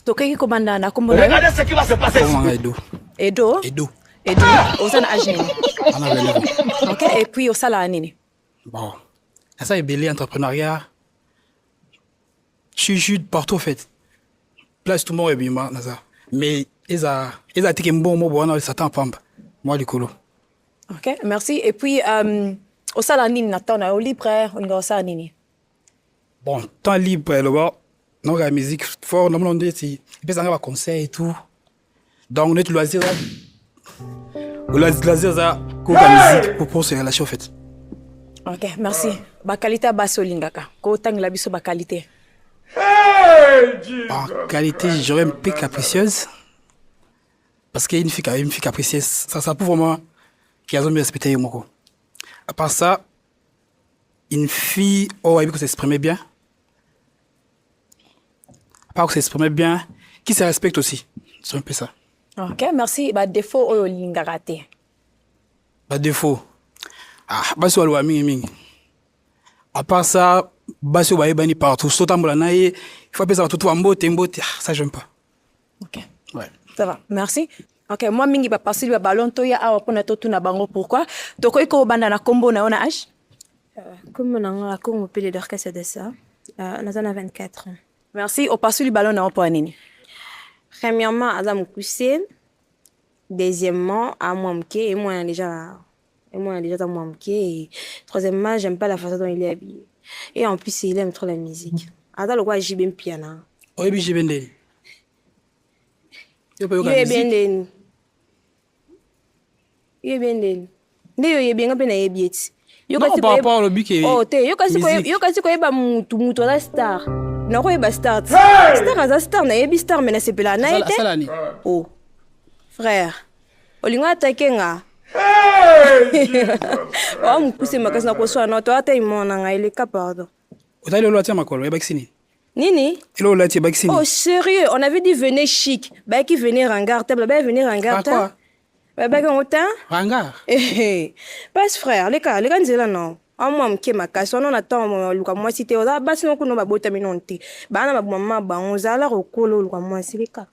tokoki kobanda na kombo na yo edo edo edo oza na age nini ok et puis osalaka nini bon eza ebele entrepreneuriat chez jude partout en fait place tout moko ebima naza mais eza eza tike mbongo moko wana satan pamba mwa likolo ok merci et puis um, osala nini na temps na yo libre olinga osala nini Bon, temps libre eloba naoka ya musique fort namona ndeti epesa nga baconseil et tout donc neti loisir loisir eza koyoka musique pour pour se relation en fait ok merci bakalite ya basi olingaka kotangela biso bakalite bakalite j'aurais mpe capricieuse parce que une fille, une fille capricieuse ça ça pour vraiment kiazo mi respecte ye moko à part ça une fille oyo ayebi kosexprime bien apart kosexprime bien qui se respecte aussi c'est un peu ça ok merci badefaut oyo olingaka te badefaut ah, basi baloba mingimingi apart ça basi oyo bayebani partout sotambola na ye ifo apesaka tutu bambote mbote ah, ça j'aime pas Ok. Ouais. Ça va. Merci. Ok, moi mingi ba passer ba ballon to ya awa pona to tuna bango pourquoi. Toko iko banda na combo na ona âge. Euh, comme na nga Congo pele d'orchestre de ça. Euh, na zana 24 ans. Merci. Au passer le ballon na opo nini. Premièrement, aza mukuse. Deuxièmement, à moi mke et moi déjà Et moi, déjà, dans mon pied. Troisièmement, j'aime pas la façon dont il est habillé. Et en plus, il aime trop la musique. Attends, le quoi, j'y bien piano. Oui, j'y bien des. Il est bien des. Il est bien des. nde yo oyebi nga mpe nayebi eti oh, te yokasi koyeba mutu mutu aza star nakoyeba star te star aza star nayebi star me nasepelaka na ye te o oh, frère olingo atake nga oa mokuse makasi na koswana na to ata imona na ngai leka pardon otali lolo atia makolo ebakisi nini Nini? Hello, là, tu es Oh, sérieux, on avait dit venez chic. Bah, qui venait rangar, t'as bah, venez rangar, t'as. Bah, bah, on t'a. Rangar. Eh, eh. Passe, frère, les gars, les gars, là, non. Ah, moi, m'ke ma casse, on a tant, moi, Luka, moi, si t'es, on a, bah, sinon, qu'on a, bah, botamine, on t'es. Bah, on a, bah, maman, bah, on a, là, au colo, Luka, moi, si, les gars.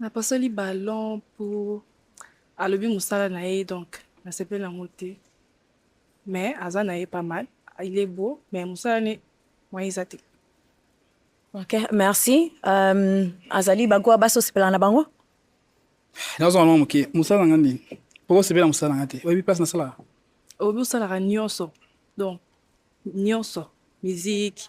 Na pasoli ballon pour alobi musala na ye donc na sepeli na ngote. Mais aza na ye pas mal. Il est beau mais musala ne moi eza te. Ok, merci. Euh, azali bango ya basi osepela na bango? Nazo mwa moke musala nga nini? Poko sepela musala nga te. Oyebi place nasala? Oyebi osalaka nyonso. Donc nyonso, musique,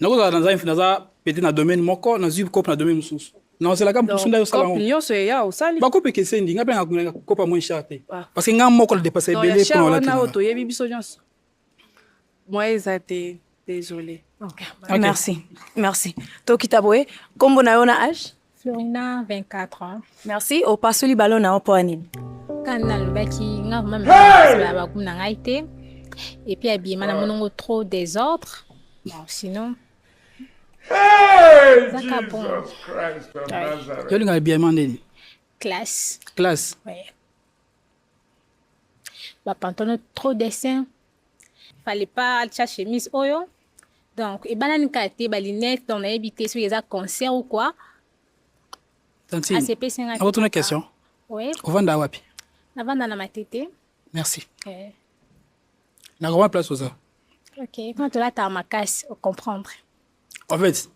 nakozala naza naza pete na domaine moko nazwi cope na domaine mosusu naozelaka mposo nda yosala nyonso eya osali bakope ekeseni nga mpe nakomelaka kopa moins cher te ah. parce que nga moko nadepasa ebele mpo wana oyo toyebi biso nyonso mwa eza te désolé okay. merci merci tokita boye nkombo na yo na age Florina 24 ans. Merci opasoli balo na yo mpo ya nini? Kaka nalobaki nga vrema mema bakumu na ngai te epuis abiyema na monongo trop desordre bon sinon ezaka bon yolinga abiyema ndeni classe classe ouais. bapantono trop dessin fallait pas atia chemise oyo donc ebalani kaka te balinete donc nayebi te soki eza concert ou quoi asepesi ngai akotuna question oui ovanda wapi navanda na matete merci eh. nakoma place oza ok mpona tolataka makasi ocomprendre en fait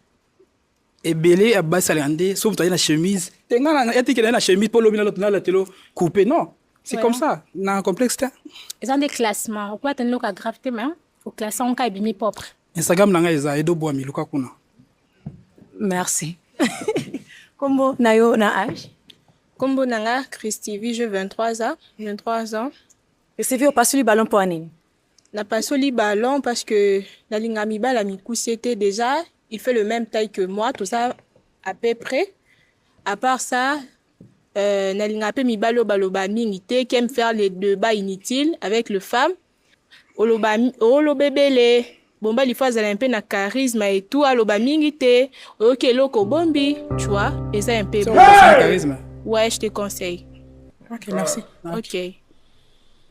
ebele ya basi alinga nde soki moto aye na chemise te nga na etikela ye na chemise mpo lobi nalatelo coupe non c'est comme ça na complexe te eza nde classement okoya tani loka grave te ma oklasse yango ka ebimi propre instagram na ngai eza edo bwami luka kuna merci kombo na yo na age kombo na nga christivi je 23 ans 23 ans esivi opasuli ballon mpo ya nini Na pasoli ballon parce que na linga mibala mikuse te déjà il fait le même taille que moi tout ça à peu près à part ça euh, na linga pe mibalo baloba mingi te qui aime faire les débats inutiles avec le femme oloba olobebele bomba lifo azala mpe na charisme et tout aloba mingi te oyoki eloko obombi tu vois eza mpe bon. ouais je te conseille ok merci ok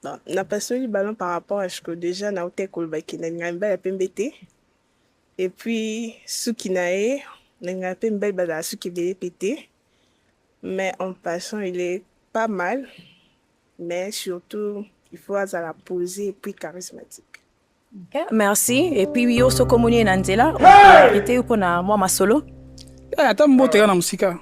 Bon, na pasoli ballon par rapport à Chico déjà na utai koloba ke na lingaka mibali ya pembe te et puis suki na ye na lingaka mpe mibali bazala suki ebele mpe te mais en passant il est pas mal mais surtout il faut azala posé et puis charismatique merci epuis yo soki omoni ye na nzela ete yo mpona mwa masolo eh, ata mbote kaka na mosika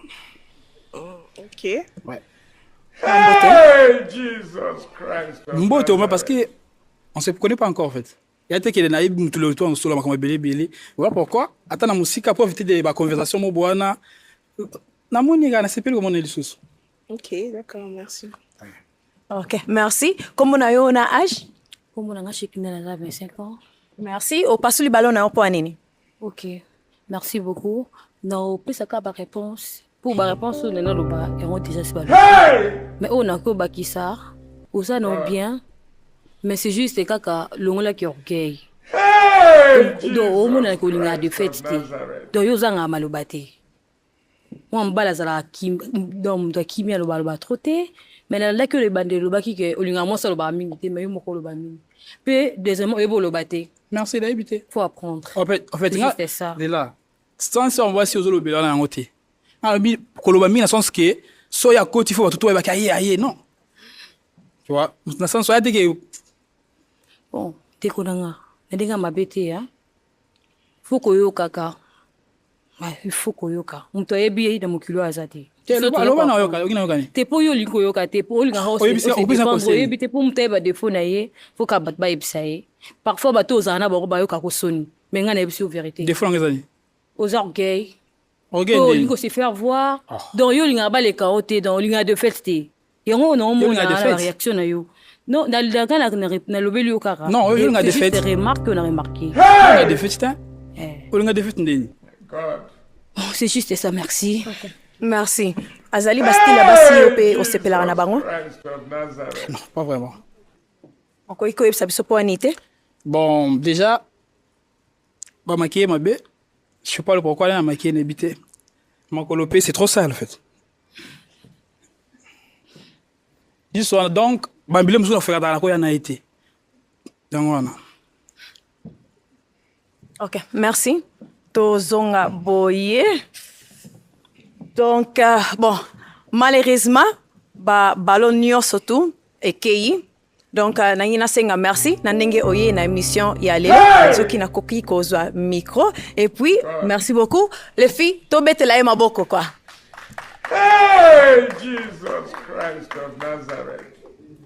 mbote oma parce que on se connaît pas encore en fait ya te kende na ye motu lelo to akosola makambo ebele ebele voilà pourquoi ata na mosika po éviter de baconversation mobo wana namoni kaka nasepeli komona ye lisusu ok d'accord merci Ok, merci. Comment na yo na âge? Comment na âge qui na 25 ans. Merci. Au passe le ballon na point nini? Ok. Merci beaucoup. Na opesa ka ba réponse. Pour ba réponse na na loba et on déjà c'est Mais on a ko ba qui ça? Oza non bien. Mais c'est juste kaka longola ki orgueil. Hey! Donc au moins na ko linga de fête. Donc yo zanga maloba te. mwana mobali azalaka donc moto akimi aloba aloba tro te mai nalandaki oyo ebandeli olobaki ke olingaka mwasi alobaka mingi te mai yo moko oloba mingi mpe deuxièmement oyebi oloba te merci nayebi te faut apprendre en fait, en fait nga, ça lela sans ya mwasi ozolobela na yango te alobi koloba mingi na sens ke so ya koti fo bato to oyebaki aye aye non tu vois na sens oya te ke bon ndeko na nga na ndenge ya mabe te ya fo koyokaka Ah, il faut koyoka moto ayebi ye na mokili oyo aza te te mpo yo olingi koyoka te mpo olingaka oyebi te mpo moto ayeba defo na ye foka bato bayebisa ye parfois bato ozala na bango bayoka kosoni me ngai nayebisi yo verité oza orgueil olingi kose faire voir ah. donc yo olingaka baleka yo te donc olingaka de fete te yango oyo naomona na bareaction na yo non nalidaka nalobeli yo kaka non olinga defete remarque na remarqué olinga defete te eh. olinga defete ndeni oh, c'est juste ça merci okay. merci azali bastile ya basi yo mpe osepelaka na bango non pas vraiment okoki koyebisa biso mpo wani te bon déjà bamakiye mabe je sais pas le pourquoi na makiye na yebi te makolo mpe c'est trop sale en fait This one donc bambile mosusu nafekataka na koya na ye te yango wana ok merci tozonga boye donc euh, bon malheureusement ba ballon nyonso tu ekei donc euh, nangi nasenga merci na ndenge oye na émission ya lelo soki nakoki kozwa micro et puis merci beaucoup les filles tobetela ye maboko quoi hey, Jesus Christ of Nazareth.